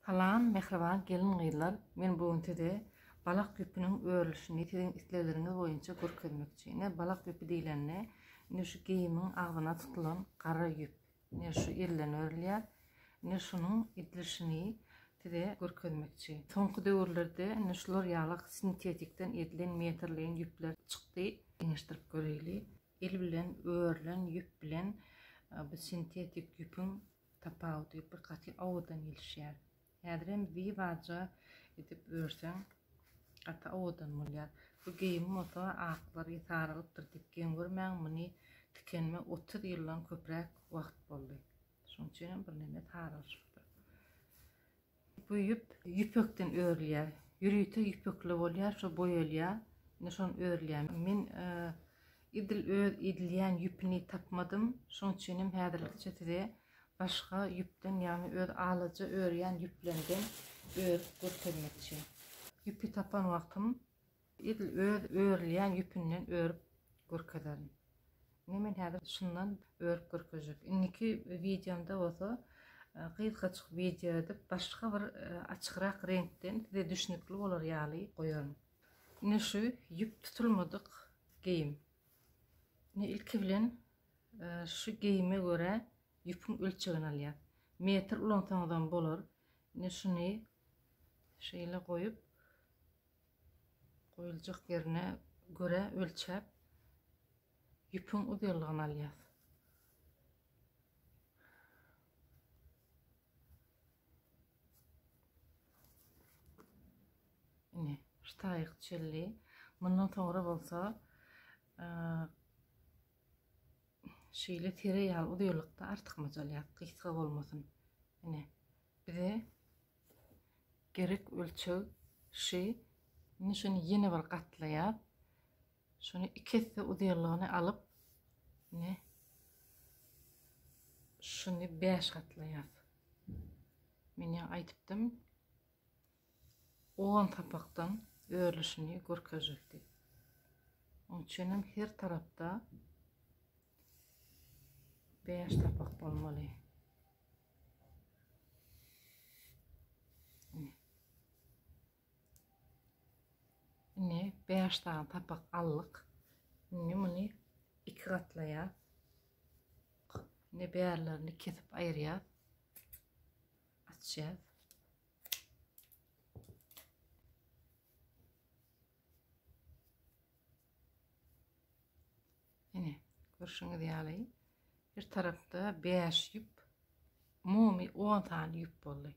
Salam mähriban gelin gyzlar men bu gün size balak düpüniň örülişini siziň islegleriňiz boýunça görkezmekçi ine balak düpü diýlende indi şu geýimiň agzyna tutulan gara ýüp ine şu elden örülýär ine şunuň edilişini size görkezmekçi soňky döwürlerde ine şular ýaly sintetikden edilen metrleýin ýüpler çykdy deňeşdirip göreýli el bilen örülen ýüp bilen e, bu sintetik ýüpüň tapawudy bir gaty owadan gelişýär. Häzirem zi baja edip örseň gaty owadan bolýar. Bu geýim bolsa aklary saralypdyr diýip geň görmäň muny tikenime otuz ýyldan köpräk wagt boldy. Şonuň üçinem birneme saralyşypdyr. Bu ýüp ýüpekden örülýär. Ýörite ýüpekli bolýar, şo boýalýar. Indi şony örülýär. Men edil öz edilýän ýüpüni tapmadym. Şoň üçin hem häzirlikçe size başga ýüpden, ýagny öz alaja örýän ýüplerimden örüp görkezmekçi. Ýüpi tapan wagtym Edil öz örülýän ýüpünden örüp görkezerin. Ine men häzir şundan örüp görkezjek. Indiki wideomda bolsa gysgajyk wideo edip başga bir açykrak reňkden size düşnükli bolar ýaly goýaryn. Ine şu ýüp tutulmadyk geýim. Ine ilki bilen şu geýime görä ýüpüň ölçegini alýas. Metr ulansaňyzam bolar. Ine şuny şeýle goýup Goýuljak ýerine görä ölçäp, ýüpüň uzynlygyny alýas. Ine, ştaýyk çilli. Mundan soňra bolsa şeýle tire ýaly uzynlykda artykmaç alýas, gysga bolmasyn. Ine, bize Gerek ölçeg şy indi şuny ýene bir gatlaýar. Şuny iki esse uzyýlygyny alyp ne şuny 5 gatlaýar. Men ýa aýdypdym 10 sapakdan örülişini görkezjekdi. Oň üçin hem her tarapda 5 sapak bolmaly. Indi 5 sany sapak aldyk. Indi muny iki gatlaýar. Indi bärlerini kesip aýyrýar. Açýar. Ine, görşüňiz ýaly, her tarapda bäş ýüp, umumy on sany ýüp boldy.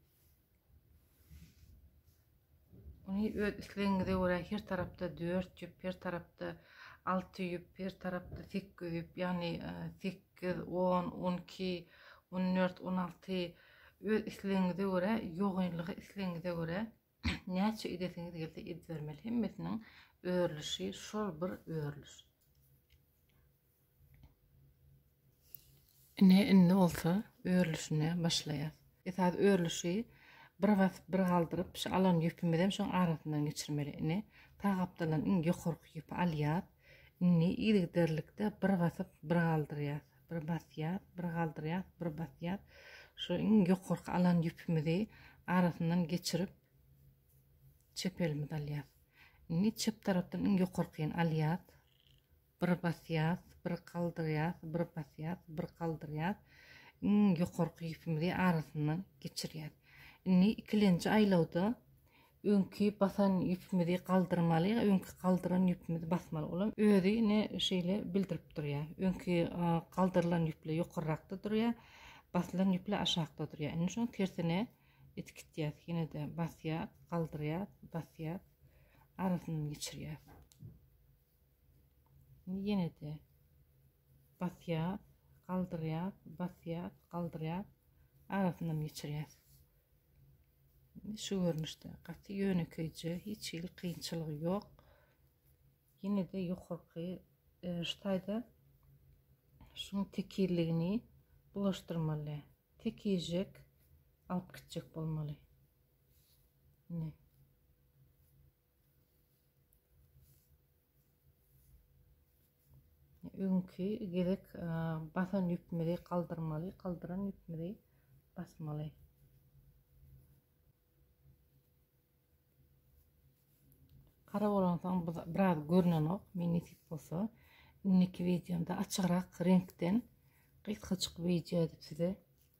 Ony öz islegiňize görä her tarapda dört ýüp, her tarapda alty ýüp, her tarapda sekiz ýüp, ýagny e, sekiz, on, on iki, on dört, on alty öz islegiňize görä, ýogynlygy islegiňize görä Näçe idesiňiz gelse idibermeli hemmesiniň örlüşi şol bir örlüş. Ine indi bolsa örlüşine başlaýas. Esas örlüşi bir bas bir galdyryp şu alan ýüpimizi hem şoň arasyndan geçirmeli. Ine sag gapdaldan iň ýokarky ýüpi alýas. Indi yzygiderlikde bir basyp bir galdyrýas. Bir basýas, bir galdyrýas, bir basýas. Şu iň ýokarky alan ýüpimizi arasyndan geçirip, çep elimizi alýas. Indi çep tarapdan iň ýokarkyny alýas. Bir basýas, bir galdyrýas, bir basýas, bir galdyrýas. Iň ýokarky ýüpimizi arasyndan geçirýäs. Indi ikilenji aýlawda Öňki basan ýüpimizi galdyrmaly, öňki galdyran ýüpimizi basmaly. Olam özi ne şeýle bildirip durýar. Öňki galdyrylan ýüpli ýokarrakda durýar, basylan ýüpli aşakda durýar. Indi şoň tersine etikitýär. Ýene-de basýar, galdyrýar, basýar, arasyndan geçirýär. Ýene-de basýar, galdyrýar, basýar, galdyrýar, arasyndan geçirýär. Şu görnüşde gaty ýönekeýje, hiç hili kynçylygy ýok. Ýene-de ýokarky e, şu taýda şuň tekizligini bulaşdyrmaly. Tekizjek alyp gitjek bolmaly. Ine. Öňki gezek basan ýüpimizi galdyrmaly, galdyran ýüpimizi basmaly. Gara bolansoň biraz görünenok, men nesip bolsa indiki wideomda açygyrak reňkden gysgaçyk wideo edip size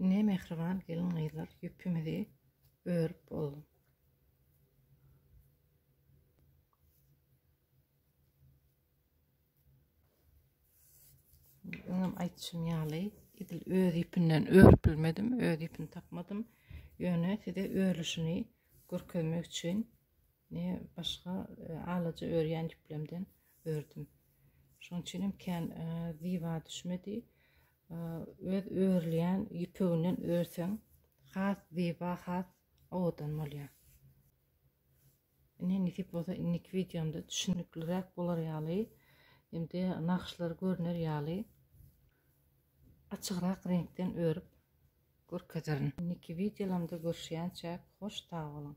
Ne mehriban gelin gyzlar ýüpimizi örüp boldum. Öňem aýtşym ýaly, edil öz ipinden örüp bilmedim, öz ipini tapmadym. Ýöne size örülişini görkezmek üçin ne başga e, alaja örýän ýüplemden ördüm. Şonuň üçin hem kän e, ziba düşmedi. E, öz örülýän ýüpeginden örseň, has ziba, has owadan bolýar. Ine nesip bolsa indiki wideomda düşünikliräk bolar ýaly hem-de nagyşlary görner ýaly açygrak reňkden örüp görkezerin. Indiki wideolamda görüşýänçäk hoş sag boluň.